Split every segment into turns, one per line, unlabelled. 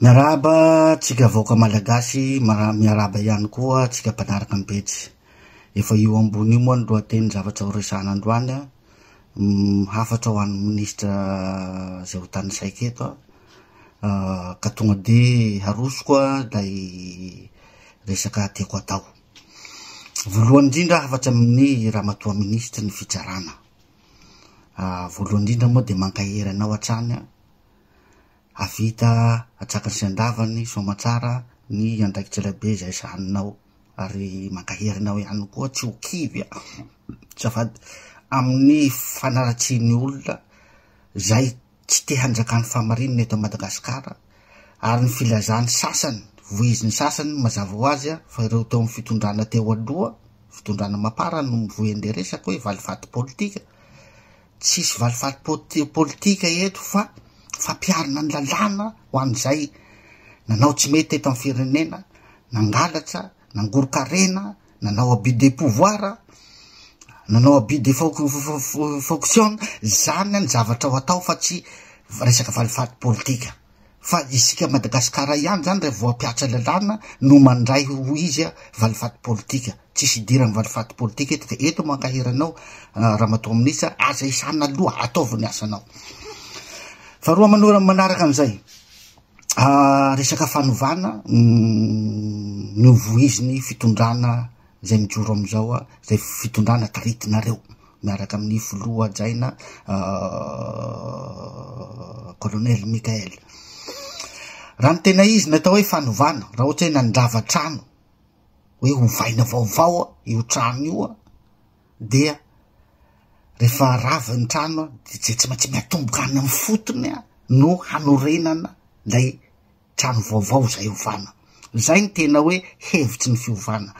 Miarahaba tsika vahoaka Malagasy, miarahaba ihany koa tsika mpanaraka ny pejy. Efa io ambony io moa ny lohateny zavatra ho resahana androany an, hafatra ho an'ny ministra izay ho tanisaiko eto an, ka tonga dia harosoko ilay resaka tiako hatao. Voalohany indrindra hafatra amin'ny ramatoa ministry ny fitsarana, voalohany indrindra moa dia mankahery anao hatrany an, Hahavita hatsakany sy handavany soamantsara ny andraikitry Ilay Be izay sahaninao, ary mankahery anao ihany koa tsy ho kivy aza fady amin'ny fanaratsiany ny olona izay tsy te hanjaka ny fahamarinana eto Madagasikara, ary ny filazan'ny sasany, voizin'ny sasany, mazava ho azy fa ireo teo amin'ny fitondrana teo aloha, fitondrana Mapar no mivoy an'ilay resaka hoe valifaty politika, tsisy valifaty po- politika eto fa fampiharina ny lalàna ho an'izay nanao tsy mety teto amin'ny firenena, nangalatsa, nangoro-karena, nanao abus de pouvoir, nanao abus de fon- fon- fon- fon- fonction, zany ny zavatra ho atao fa tsy resaka valifaty politika. fa isika Madagascar ihany zany raha vao hampiatra lalàna no mandray ho izy a valifaty politika, tsisy idirany valifaty politika eto de eto mankahery anao ramatoa ministra aza isana aloha ataovy ny asanao faharoa manora manaraka an'izay resaka fanovana ny ho voiziny fitondrana izay mijoro amin'izao izay fitondrana taritinareo miaraka amin'ny filoha hajaina kolonely Mikael. Raha ny tena izy ny atao hoe fanovana, raha ohatra hoe nandrava trano hoe hovaina vaovao io trano io dia rehefa rava ny trano dia tsy maintsy miatomboka any amin'ny fotony no hanorenana ilay Trano vaovao izay ovana. Izay ny tena hoe hevitry ny fiovana.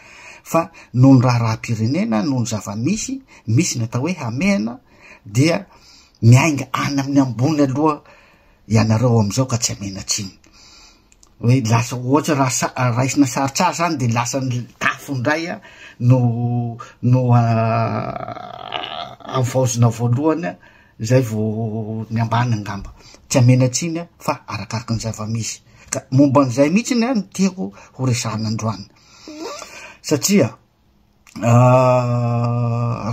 Fa noho ny raharaham-pirenena, noho ny zava-misy, misy ny atao hoe hamehana, dia miainga any amin'ny ambony aloha ianareo amin'izao ka tsy hamehana atsimo. Hoe lasa ohatra raha raisina sarotra ahy izany dia lasa ny tafo indray no no havaozina voalohany Izay vao ny ambany angamba. Tsy hamena tsiny aho fa arakaraky ny zava-misy. Ka momba an'izay mihitsy ny ahy no tiako ho resahana androany. Satria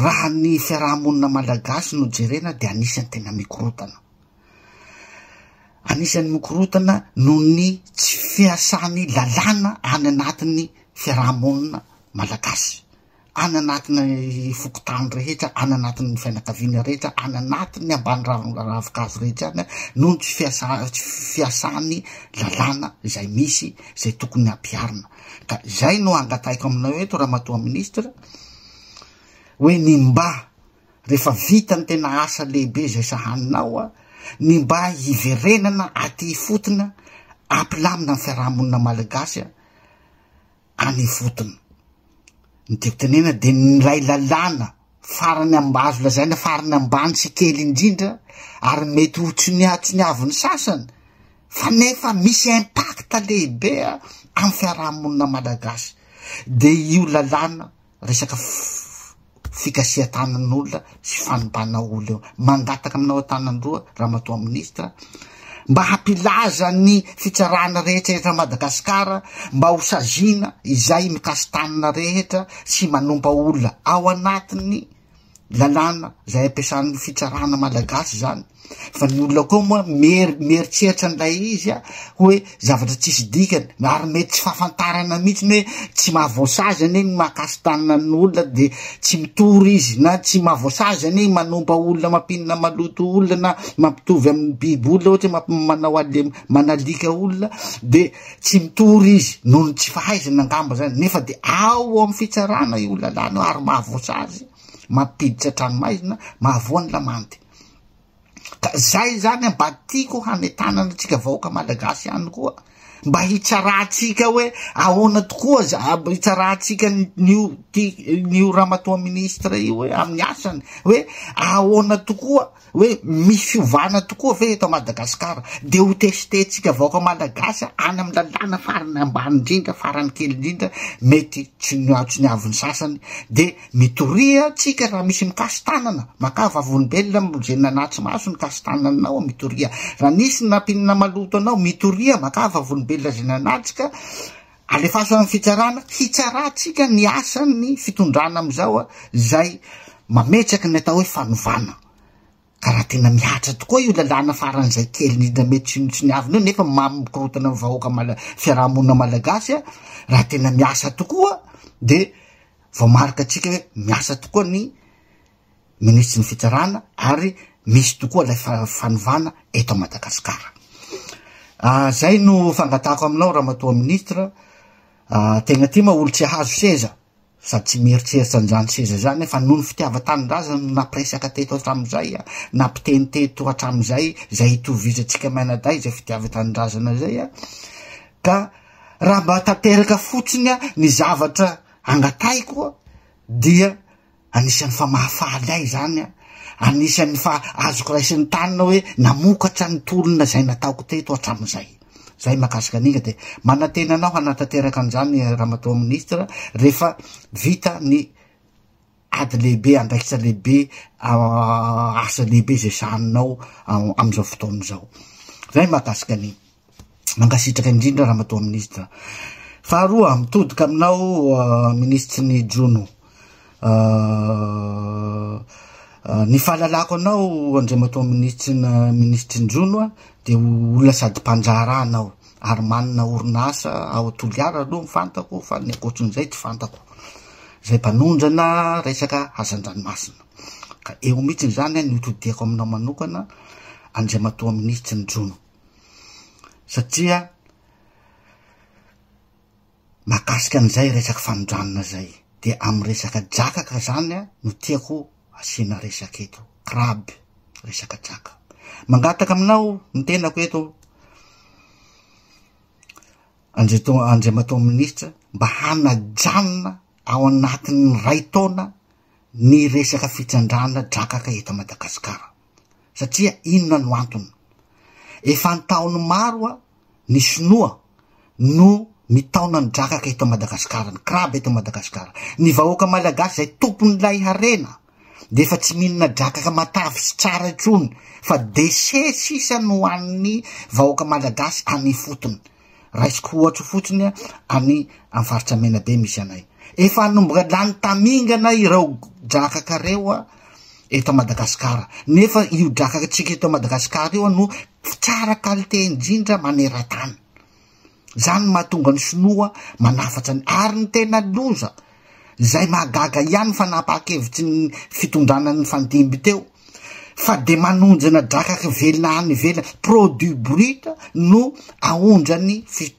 raha ny fiaraha-monina malagasy no jerena dia anisan'ny tena mikorotana. Anisan'ny mikorotana noho ny tsy fiasan'ny lalàna any anatin'ny fiaraha-monina malagasy. any anatin'ny fokontany rehetra, any anatin'ny fianakaviana rehetra, any anatin'ny ambany ravinkazo rehetra any noho ny tsy fiasan'ny lalàna izay misy izay tokony hampiharina. Ka izay no angatahiko aminao eto Ramatoa Minisitra hoe ny mba rehefa vita ny tena asa lehibe izay sahaninao a, ny mba hiverenana aty ifotony ampilamina ny fiarahamonina malagasy a, any ifotony. Ny tiako tenena dia nilay lalàna farany amba azo lazaina farany ambany sy kely indrindra ary mety ho tsoniatsoniavin'ny sasany fa nefa misy impact lehibe amin'ny fiarahamonina malagasy dia io lalàna resaka fikasihan-tanan'olona sy fanompana olona eo. Mangataka aminao an-tanan'roa, Ramatoa Minisitra, mba hampilaza ny fitsarana rehetra eto Madagasikara mba ho saziana izay mikasi-tanana rehetra sy manompa olona ao anatin'ny lalàna zay ampiasan'ny fitsarana malagasy zany fa ny olona koa moa mery mieritseritra an'ilay izy a hoe zavatra tsisy dikany na ary mety tsy fahafantarana mihitsy ny hoe tsy mahavoasazy anie ny mahakasy tanina ny olona de tsy mitory izy na tsy mahavoasazy anie i manompa olona mampinina maloto olona na mampitovy amin'ny biby olona ohatra hoe mampi- manao ale manalika olona de Tsy mitory izy noho ny tsy fahaizany angamba izany, nefa dia ao amin'ny fitsarana io lalàna io ary mahavoasa azy, mampiditra an-tranomaizina, mahavoa ny lamandy. Ka izay izany mba tiako hanentanana antsika vahoaka malagasy ihany koa, mba hitsarantsika hoe ahoana tokoa za hitsarantsika nio ty nio ramatoa ministra io hoe amin'ny asany hoe ahoana tokoa Hoe misy fiovana tokoa ve eto Madagascar? Dia ho tester tsika vahoaka Malagasy any amin'ny lalàna farany ambany indrindra, farany kely indrindra, mety tsoniatsoniavo ny sasany, dia mitoria tsika raha misy mikasi-tanana, makà vavolombelona izay nanatri-maso ny kasi-tananao, mitoria, raha nisy nampiana maloto anao, mitoria, makà vavolombelona izay nanatrika, Alefaso any fitsarana hitsarantsika ny asan'ny fitondrana amizao zay mametraky ny atao hoe fanovana ka raha tena mihatra tokoa io lalàna faran'izay kely indrindra mety sinotsiniavina io nefa mamy mikorotana ny vahoaka mala fiarahamonina malagasy raha tena miasa tokoa de vao marika atsika hoe miasa tokoa ny minisitry ny fitsarana ary misy tokoa ilay fanovana eto Madagasikara. Ah, zay no fangatahako aminao Ramatoa Ministra, ah, tegna ty ma olo tsy hahazo seza sady tsy mieritreritra an'izany seza izany fa noho ny fitiavan-tanindrazana no nampiresaka teto hatramin'izay a, nampiteny teto hatramin'izay izay hitovizantsika mainadahy izay fitiavan-tanindrazana izay a, ka raha mba tanteraka fotsiny a ny zavatra angatahiko dia Anisan'ny fa mahafaly ahy izany an! Anisan'ny fa azoko raisin'ny tanana hoe namokatra ny tolona izay nataoko teto hatramin'izay. Izay mahakasika an'iny dia manantena anao hanatanteraka an'izany Ramatoa Minisitra rehefa vita ny ady lehibe, andraikitra lehibe, asa lehibe izay sahaninao amin'izao fotoana izao. Izay mahakasika an'iny. Mankasitraka indrindra Ramatoa Minisitra. Faharoa, mitodika aminao euh, Minisitry ny Jono. Euh, euh, ny fahalalako anao Andriamatoa Minisitry ny Minisitry ny Jono a, dia olona sady mpandraharaha anao ary manana orinasa ao Toliara aloha ny fantako fa ny ankoatrin'izay tsy fantako. Izay mpanondrana resaka hazan-dranomasina. Ka eo mihitsy izany ny hotodiako aminao manokana Andriamatoa Minisitry ny Jono. satria mahakasika an'izay resaky fanondranana zay de amy resaka drakaka zany a no tiako asiana resaka eto crabe resaka draka mangataka aminao ny tenako eto andreto andriamatoa minisitra mba hanajanona ao anatin'ny ray taona ny resaka fitsandrana drakaka eto madagasikara satria inona no antony? Efa an-taoniny maro a, ny sinoa no mitaona ny drakaka eto Madagasikara, ny crabe eto Madagasikara. Ny vahoaka malagasy izay tompon'ilay harena dia efa tsy mihinana drakaka matavy sy tsara intsony fa déchets sisa no hohanin'ny vahoaka malagasy any ifotony. Raisiko ohatra fotsiny a, any amin'ny faritra Menabe misy anay. Efa hanomboka lany tamingana ireo drakaka ireo a, eto Madagasikara. Nefa io drakaka tsika eto Madagasikara io no tsara qualité indrindra maneran-tany. Zany no mahatonga ny sinoa manafatra ny ary ny tena loza. Zay mahagaga ihany ny fanapahan-kevitry ny fitondrana nifandimby teo fa de manonjona drakaky velona any ivelany, produit brut no aondrany fi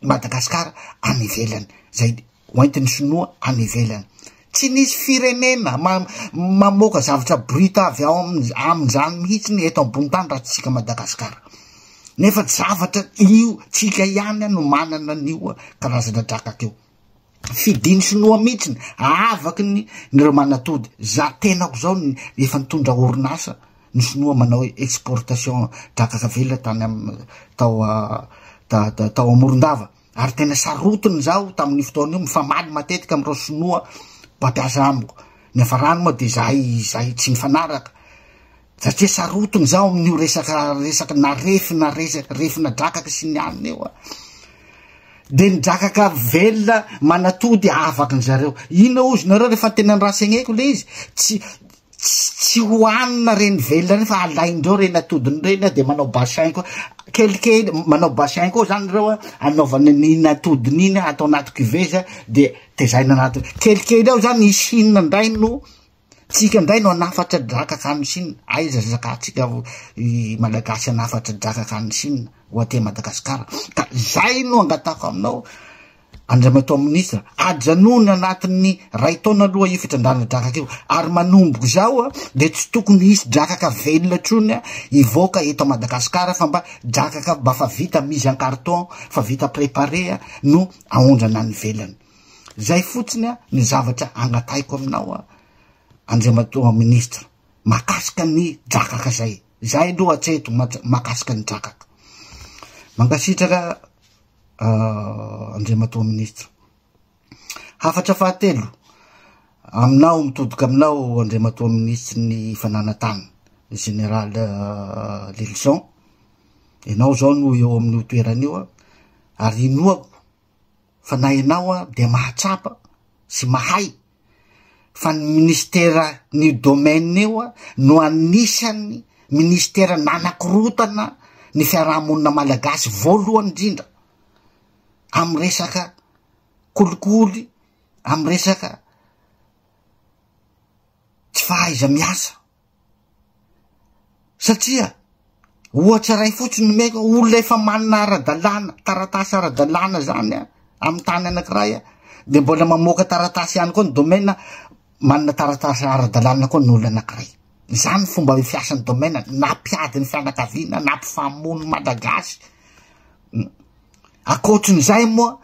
Madagascar any ivelany, zay hoentiny sinoa any ivelany. Tsy nisy firenena ma mamoaka zavatra brut avy ao amin amin'izany mihitsiny eto ambony tany raha tsy tsika Madagascar. Nefa zavatra io tsika ihany no manana an'io karazana drakaky io. fidiny sinoa mitsiny aavaky ny ny reo manatody za tenako zao ny efa nitondra orinasa ny sinoa manao exportation drakaka vela tany am tao da tao amorondava ary tena sarotiny zaho tamin'ny fotoan'io mifamaly matetika am'ireo sinoa mpampiasa amiko ny afarany moa de zahay zahay tsy mifanaraka Satria sarotiny izaho amin'io resaka resaka na refy na resaka refy na drakaka sy ny anona io a. Dia ny drakaka velona manatody afaka ny zareo. Inona hozy nareo rehefa tena ny rasegneko le izy tsy tsy hohanina reny velona reny fa alaindreo reny atodiny reny a dia manao bassin koa kelikely manao bassin koa zany ireo a anaovana n'iny atodiny iny atao anaty cuveza dia tezaina anaty kelikely ao zany isinina ndray no Tsika indray no hanafatra drakaka any Chine. Aiza zaka atsika i Malagasy hanafatra drakaka any Chine ho aty Madagasikara. Ka zay no angatako aminao Andriamatoa Ministra, ajanony anatin'ny ray taona aloha io fitrandrana drakaka io. Ary manomboka izao a, dia tsy tokony hisy drakaka velona intsony a, hivoaka eto Madagasikara fa mba drakaka mba fa vita mise en carton, fa vita préparé a, no aondrana any velany. Zay fotsiny ny zavatra angatahiko aminao Andriamatoa Ministra mahakasika ny drakaka zay. Zay aloha hatreto mahakasika ny drakaka. Mankasitraka Andriamatoa Ministra. Hafatra fahatelo aminao mitodoka aminao Andriamatoa Ministry ny Fananantany Général Lilison. Ianao zao no eo amin'io toerana io ary inoako fa na ianao a dia mahatsapa sy mahay fa ny ministera ny domaine io a no anisan'ny ministera nanakorotana ny fiarahamonina malagasy voalohany indrindra amin'ny resaka kolikoly amin'ny resaka tsy fahaiza miasa satria ohatra iray fotsiny no omeko olona efa manana ara-dalàna taratasy ara-dalàna zany a amin'ny tany anankiray a de mbola mamoaka taratasy ihany koa ny domaine manana taratasy ara-dalàna koa ny olona anankiray izany fomba fiasan'ny domaine na mpiady ny fianakaviana na mpifamono malagasy Ankoatrin'izay moa,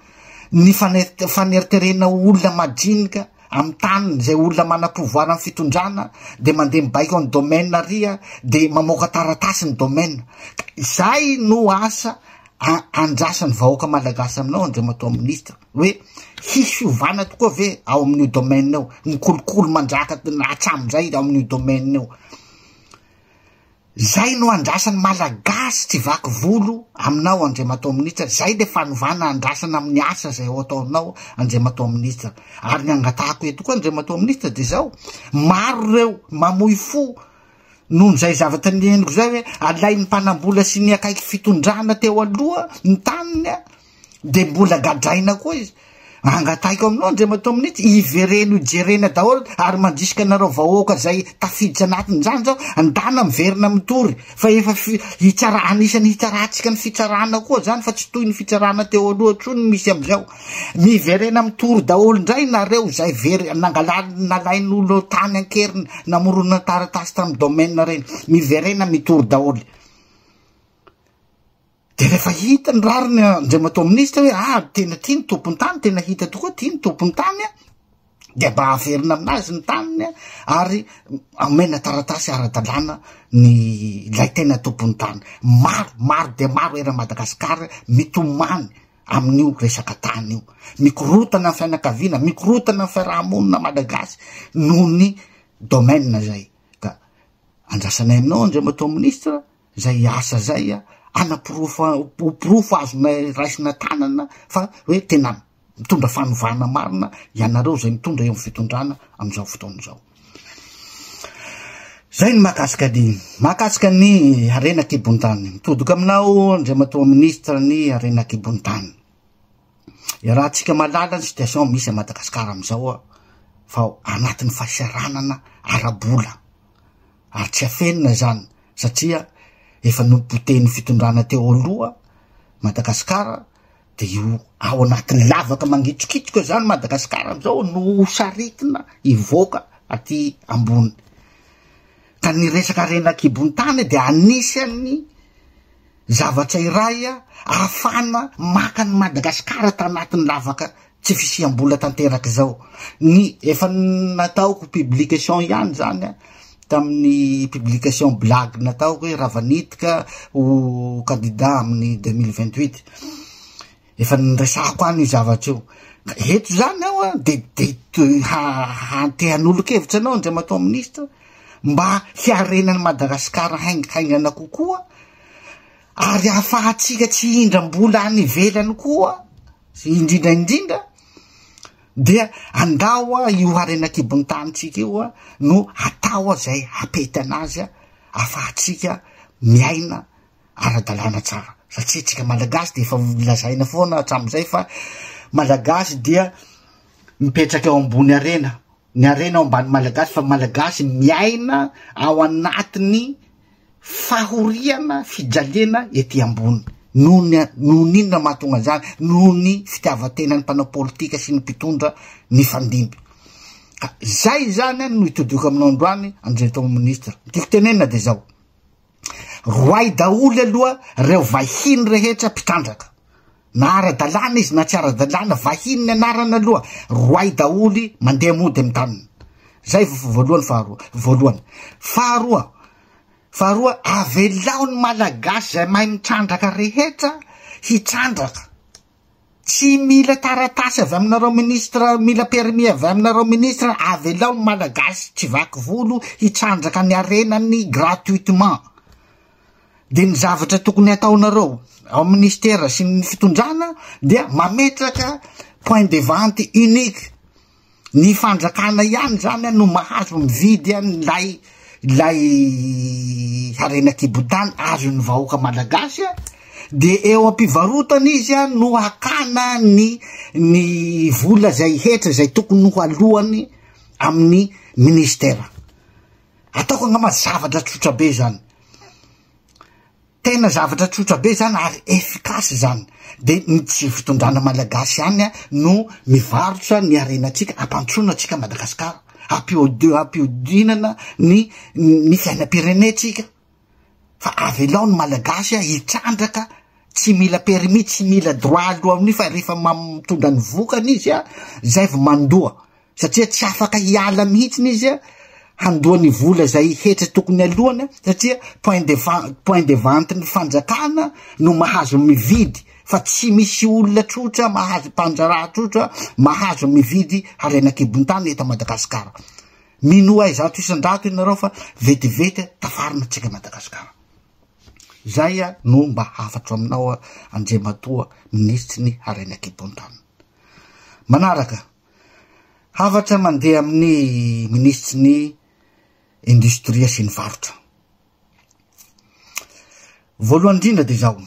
ny faneriterena ho olona majinika amin'ny taniny izay olona manam-pouvoir amin'ny fitondrana dia mandeha mibaiko an'i domaine ary dia mamoaka taratasy ny domaine. Ka izay no asa andrasan'ny vahoaka malagasy aminao Andriamatoa Minisitra hoe hisy fiovana tokoa ve ao amin'io domaine io, ny kolikoly mandraka hatramin'izay ao amin'io domaine io. Zay no andrasan'ny malagasy tsy vaky volo aminao Andriamatoa Minitra, zay le fanovana andrasana amin'ny asa zay ho ataonao Andriamatoa Minitra. Ary ny angatahako eto koa Andriamatoa Minitra de zao, maro reo mamoy fo noho zay zavatra niheniko zay hoe alain'ny mpanambola sy ny akaiky fitondrana teo aloha ny taniny a! de mbola gadraina koa izy angatahiko aminao andriamatoa minitsy hivereno hijerena daholo ary mandrisika anareo vahoaka zay tafiditra anatiny zany zao andana miverina mitory fa efa hitsara anisany hitsarantsika ny fitsarana koa zany fa tsy toy ny fitsarana teo aloha tro ny misy amizao miverena mitory daholo ndray nareo zay very nangalal nalain'olo tany ankerina namorona taratasy tamy domaine reny miverena mitory daholo De rehefa hita ny rariny Andriamatoa Minisitra hoe ah tena tia ny tompon-tany, tena hita tokoa tia ny tompon-tany a, dia mba averina aminazy ny taniny a, ary amena taratasy ara-dalàna ny ilay tena tompon'ny tany. Maro, maro dia maro eran'i Madagasikara mitomany amin'io resaka tany io. Mikorotana ny fianakaviana, mikorotana ny fiarahamonina Malagasy noho ny domaine zay. Ka andrasanay aminao Andriamatoa Minisitra Zay asa zay a, anaporofo ho porofo azonay raisina tanana fa hoe tena mitondra fanovana marina ianareo zay mitondra eo amin'ny fitondrana amin'izao fotoana izao. Zay ny mahakasika ny mahakasika ny harena an-kibon-tany. Mitodoka aminao Andriamatoa Ministra ny harena an-kibon-tany. Iarahantsika mahalala ny situation misy à Madagascar amin'izao aho fa ao anatin'ny fahasahiranana ara-bola ary tsy afenina izany satria efa nopotehin'ny fitondrana teo aloha Madagascar dia io ao anatin'ny lavaka mangitsokitsoka izany Madagascar amin'izao no saritina hivoaka aty ambony ka ny resaka harena an-kibon'ny tany dia anisan'ny Zavatra iray ahafahana maka an'i Madagasikara tanatin'ny lavaka tsy fisiam-bola tanteraka izao. Ny efa nataoko publication ihany izany tamin'ny publication blague nataoko hoe Ravanitika ho candidat amin'ny 2028. Efa niresahako any io zavatra io. Ka eto izany aho a, dia dia to- ha- hantehan'olon-kevitra anao Andriamatoa Minisitra mba hiarenan'i Madagasikara haing- haingana kokoa ary hahafahantsika tsy hihindram-bola any ivelany koa indrindra indrindra dia andao a io harena an-kibon'ny tanintsika io a no atao a izay hapetana azy a afahantsika miaina ara-dalàna tsara satria tsika malagasy dia efa lazaina foana hatramin'izay fa malagasy dia mipetraka eo ambony arena ny arena ao ambany malagasy fa malagasy miaina ao anatiny fahoriana fijaliana ety ambony noho ny noho ny inona mahatonga an'izany noho ny fitiavan-tena ny mpanao politika sy ny mpitondra ny fandimby ka zay zany no itodioko aminao androany anjeritao ministra ny tiako tenenina de zao Roahy daholo aloha reo vahiny rehetra mpitandraka. Na ara-dalàna izy na tsy ara-dalàna, vahiny ny anarana aloha, roahy daholy mandeha mody amin'ny taniny. Zay voalohany faharoa, voalohany. Faharoa, faharoa avelao ny malagasy zay mahay mitrandraka rehetra hitrandraka. Tsy mila taratasy avy aminareo ministra mila permis avy aminareo ministra avelao ny malagasy tsy vaky volo hitrandraka ny harenany gratuitement dia ny zavatra tokony hataonareo ao ministera sy ny fitondrana dia mametraka point de vente unique Ny fanjakana ihany zany an no mahazo mividy an lay lay harena kibotany azon'ny vahoaka malagasy an de eo ampivarotana izy an no hakana ny ny vola zay hetra zay tokony ho aloany amin'ny ministera ataoko angamba zavatra tsotra be zany Tena zavatra tsotra be zany ary efficace zany. De ny tsy fitondrana malagasy ihany no mivarotra ny harenantsika, ampantsoina antsika Madagascar, ampiodi- ampiodinana ny ny fiainam-pirenentsika. Fa avelao ny malagasy hitrandraka tsy mila permis, tsy mila droit alohan'io fa rehefa ma- mitondra ny vokany izy a, zay vao mandoa. satria tsy afaka hiala mihitsiny izy handoa ny vola izay hetra tokony alohany satria point de point de vente ny fanjakana no mahazo mividy fa tsy misy olona trotra mahazo mpanjaraha trotra mahazo mividy harena kibon-tany eto Madagasikara minoa izato isan-drato ianareo fa vetivety tafarina tsika Madagasikara zay no mba hafatro aminao Andriamatoa minisitry ny harena kibon-tany manaraka Hafatra mandeha amin'ny minisitry ny indostria sy ny varotra. Voalohany indrindra dia izao.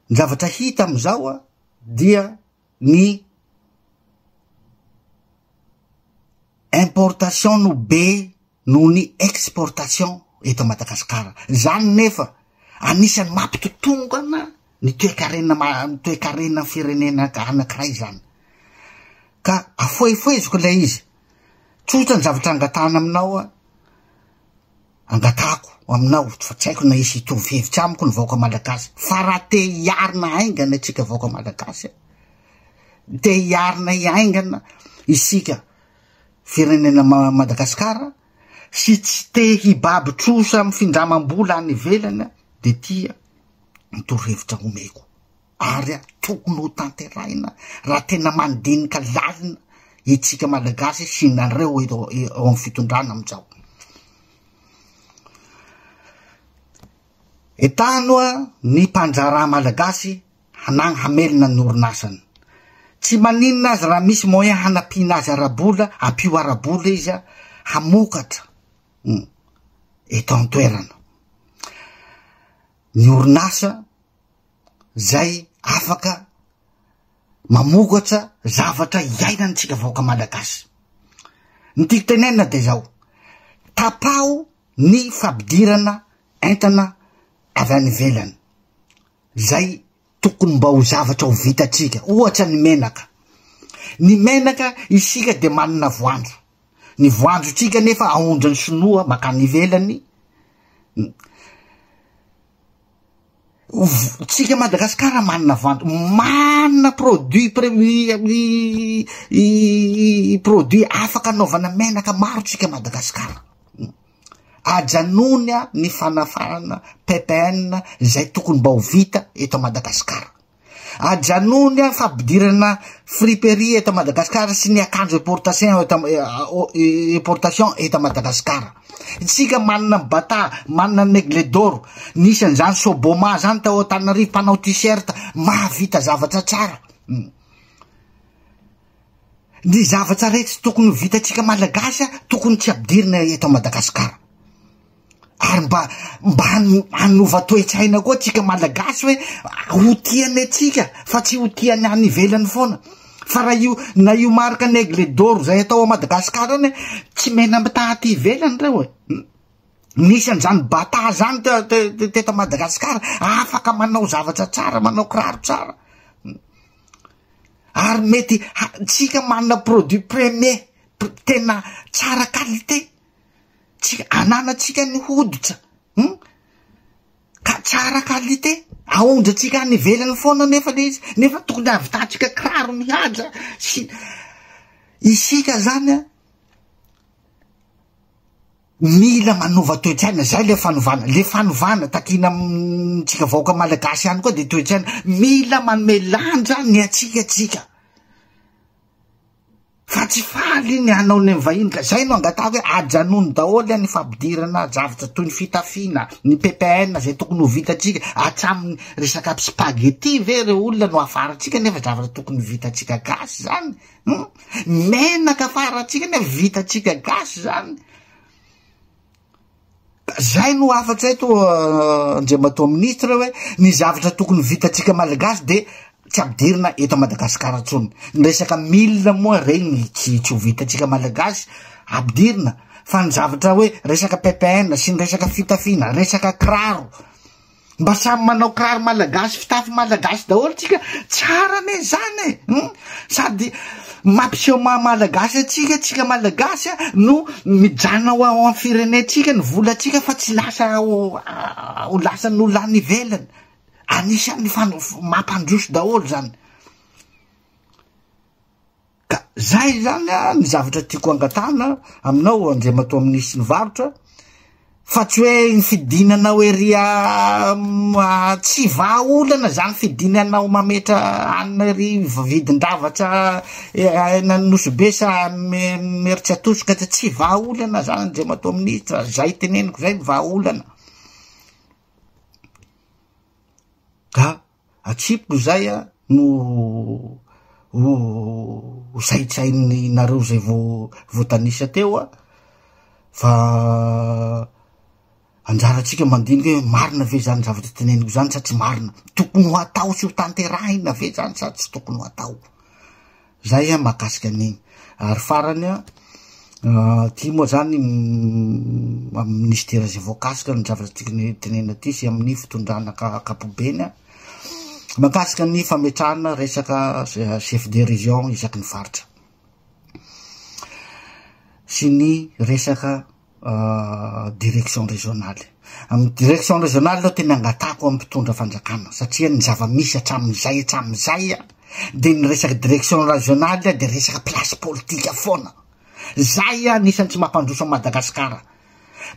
Ny zavatra hita amin'izao dia ny importation no be noho ny exportation eto Madagasikara. Izany nefa anisan'ny mampitotongana ny toekarena ny toekarenan'ny firenena anankiray izany. Ka afoefoeziko ilay izy. Tsotra ny zavatra angatahana aminao a. Angatahako aminao fa tsy haiko na hisy hitovy hevitra amiko ny vahoaka malagasy fa raha te hiarina haingana isika vahoaka malagasy dia hiarina hiaingana isika firenena Madagascar sy tsy te hibaby trosa am findramam-bola any ivelany de tia ny torohevitra homeko ary tokony ho tanterahina raha tena mandinika lalina itsika Malagasy sy nareo eto eo am fitondrana amizao. Etanoa ny mpandraharaha Malagasy hanagny hamelona ny orinasany. Tsy maninona aza raha misy moyen hanampiana azy ara-bola, ampio ara-bola izy hamokatra eto an-toerana. Ny orinasa zay afaka mamokatra zavatra iainantsika vahoaka malagasy. Ny tiako tenenina de zao, tapaho ny fampidirana entana avy any ivelany. Izay tokony mba ho zavatra ho vitantsika. Ohatra ny menaka. Ny menaka isika dia manana voanjo. Ny voanjontsika nefa aondran'ny sinoa makany ivelany. Tsika Madagasikara manana voanjo, manana produit produit afaka anaovana menaka maro tsika Madagasikara. Ajanony ny fanafahana PPN izay tokony mba ho vita eto Madagasikara. Ajanony ny fampidirana friperie eto Madagasikara sy ny akanjo importation eto eh, importation eto Madagasikara. Isika manana bata, manana negle d'or, nisy an'izany Soboma zany tao Antananarivo mpanao t-shirt, mahavita zavatra tsara. Hmm. Ny zavatra rehtra tokony ho vitantsika malagasy a, tokony tsy ampidirina eto a Madagascar. Ary mba mba hano- hanova toe-tsaina koa tsika malagasy hoe ho tiany antsika fa tsy ho tiany any ivelany foana. Fa raha io na io marika ny aigle d'or zay atao a Madagascar any, tsy mena mitaha aty ivelany reo e. Hum. Nisy an'zany bata zany te- te- te- teto a Madagascar, afaka manao zavatra tsara, manao kiraro tsara. ary mety tsika manana produit premier tena tsara qualité tsy ananatsika ny hoditra hmm? ka tsara qualité aondratsika any ivelany foana nefa le izy nefa tokony avitantsika kiraro mihaja sy isika zany a Mila manova toe-tsaina, zay le fanovana, le fanovana takiana amintsika vahoaka malagasy ihany koa de toe-tsaina, mila manome lanja ny atsika tsika fa tsy faly ny hanao ny vahiny ka zay no angatahako hoe ajanony daholo any fampidirana zavatra toy ny fitafiana ny ppn zay tokony ho vitatsika atsaminy resaka spaghetti ve re olona no afarantsika nefa zavatra tokony vitatsika gasy zany Hum! Menaka farantsika anie vitantsika gasy zany. Zay no hafatra eto euh, Andriamatoa Ministra hoe ny zavatra tokony vitantsika Malagasy de tsy ampidirina eto Madagasikara tsony Ny resaka mille moa regny tsy tsy ho vitantsika Malagasy ampidirina fa ny zavatra hoe resaka PPN sy ny resaka fitafiana, resaka kiraro. Mba samy manao kiraro malagasy, fitafy malagasy daholo tsika, tsara anie zany e! Hum! Sady mampiseho maha malagasy antsika tsika malagasy a, no mijanona ho ao amin'ny firenentsika ny volantsika fa tsy lasa ho ho lasan'olona any ivelany. Anisan'ny fan- mampandroso daholo zany. Ka zay izany ny zavatra tiako angatahana aminao Andriamatoa Minisitry ny Varotra fa tsy hoe ny fidinanao ery tsy vahaolana zany fidinanao mametra hanina ery vidin-javatra any Nosy-Be sa Imeritsiatosika dia tsy vahaolana zany Andriamatoa Minisitra, zay teneniko zay ny vahaolana. Ka Atsipiko zay a no ho zaitrainy nareo zay vo voatanisa teo a, fa anjaratsika mandinika hoe marina ve zany zavatra teneniko zany sa tsy marina, tokony ho atao sy ho tanterahina ve zany sa tsy tokony ho atao. Zay an mahakasika an'igny. Ary farany an, ty moa zany amin'ny minisitera izay voakasika ny zavatra tokony tenenina aty sy amin'ny fitondrana ankapobeny an, mahakasika ny fametrahana resaka chef de région isaky ny faritra sy ny resaka direction régionale. Amin'ny direction régionale aloha tena angatahako amin'ny mpitondra fanjakana satria ny zava-misy hatramin'izay hatramin'izay a dia ny resaka direction régionale dia resaka place politika foana. Zay anisan'ny tsy mampandroso an'i Madagasikara.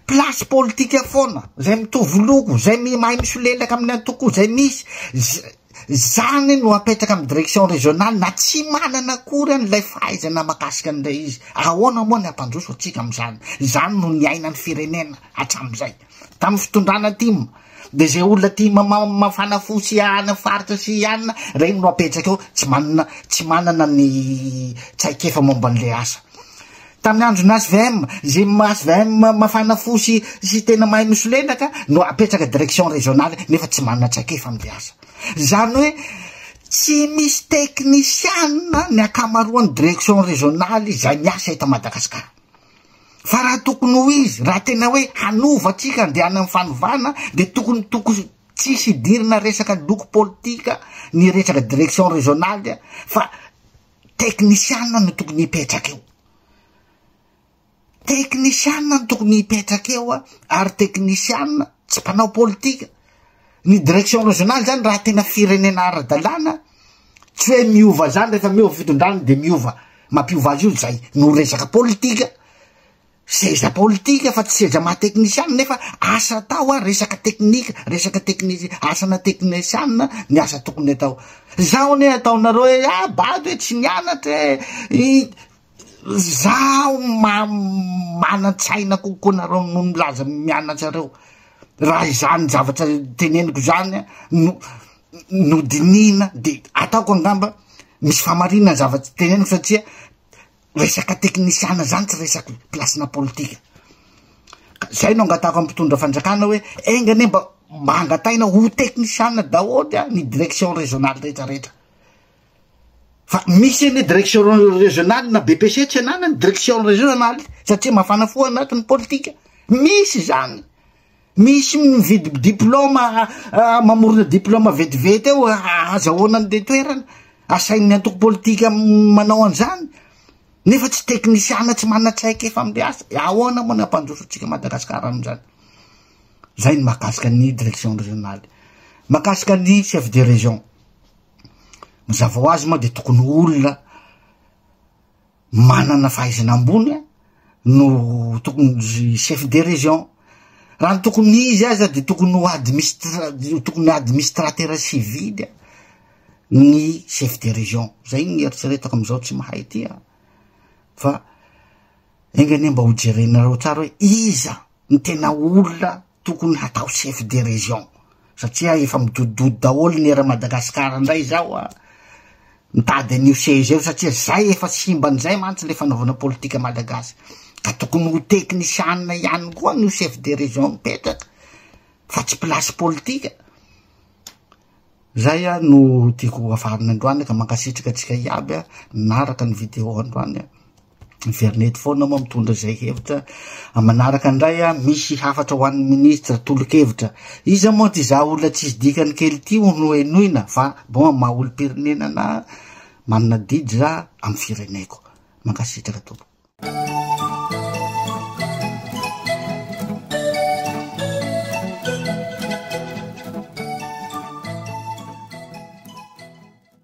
Place politika foana, zay mitovy loko, zay mahay misolelaka amin'ny antoko, zay misy, Izany no apetraka amin'ny direction régionale na tsy manana akory any ilay fahaizana mahakasika an'ilay izy. Ahoana moa ny hampandroso antsika amin'izany? Izany no niainan'ny firenena hatramin'izay. Tamin'ny fitondrana tim, dia izay olona tia mamafana fo sy hiahana faritra sy hianina, ireny no apetraka eo, tsy manana, tsy manana ny traikefa momba an'ilay asa. Tamin'ny andron'ny HVM, izay HVM mafana fo sy sy tena mahay misolelaka ka no apetraka direction régionale nefa tsy manana traikefa amin'ilay asa. Izany hoe tsy misy teknisiana ny ankamaroan'ny direction régionale izay miasa eto Madagasikara. Fa raha tokony ho izy, raha tena hoe hanova antsika handeha any amin'ny fanovana dia tokony tokony tsisy idirana resaka loko politika ny resaka direction régionale fa Teknisiana no tokony hipetraka eo. Teknisiana no tokony hipetraka eo a, ary teknisiana tsy mpanao politika. Ny direction régionale zany raha tena firenena ara-dalàna, tsy hoe miova zany rehefa miova fitondrana de miova, mampiova azy io zay no resaka politika. Seza politika fa tsy seza maha teknisiana nefa asa atao ary resaka teknika, resaka teknisi, asana teknisiana ny asa tokony atao. Zaho anie ataonareo hoe ah bado e, tsy nianatra e, i, zaho ma, manan-tsaina kokoa nareo noho ny milaza mianatsareo. Raha izany zavatra teneniko izany no, no dinihina dia ataoko angamba misy famarinana ny zavatra teneniko satria Resaka teknisiana zany tsy resaka plasina politika. Zay no angatahako amin'ny mpitondra fanjakana hoe enga anie mba mba angataina ho teknisiana daholo a ny direction régionale rehetra rehetra. Fa misy anie direction régionale na BPC tsy ananany direction régionale satria mafana fo anatiny politika. Misy zany. Misy mividy diploma mamorona diploma vetivety eo ahazahoana ny toerana asain'ny antoko politika manao an'izany nefa tsy teknisiana tsy manan-tsaika efa amle asa ahoana moa ny hampandroso antsika Madagasikara amin'izany zay ny makasika ny direction régionale makasika ny chef de région mazava ho azy moa de tokony olona manana fahaizana ambony no tokony chef de région, raha ny tokony izy aza de tokony ho administra- tokony administratera civily a, ny chef de région, zay ny eritreretako am'zao tsy mahay ty an, fa enga anie mba ho jerenareo tsara hoe iza ny tena olona Tokony hatao chef de région satria efa midodododo daholo ny era Madagascar ndray zao a! Mitady an'io seza io satria zay efa simba an'izay mantsy le fanaovana politika Malagasy ka tokony ho teknisianina ihany koa no chef de région mipetraka fa tsy place politika. Zay a no tiako hafarana androany ka mankasitraka antsika iaby a naraka ny video androany a. Miverina eto foana moa mitondra izay hevitra. Manaraka indray a, misy hafatra ho an'ny ministra tolo-kevitra. Iza moa ty za olona tsisy dikany kely ty ho nohenoina fa bon amin'ny maha olom-pirenena na manana didy za amin'ny fireneko. Mankasitraka tompoko.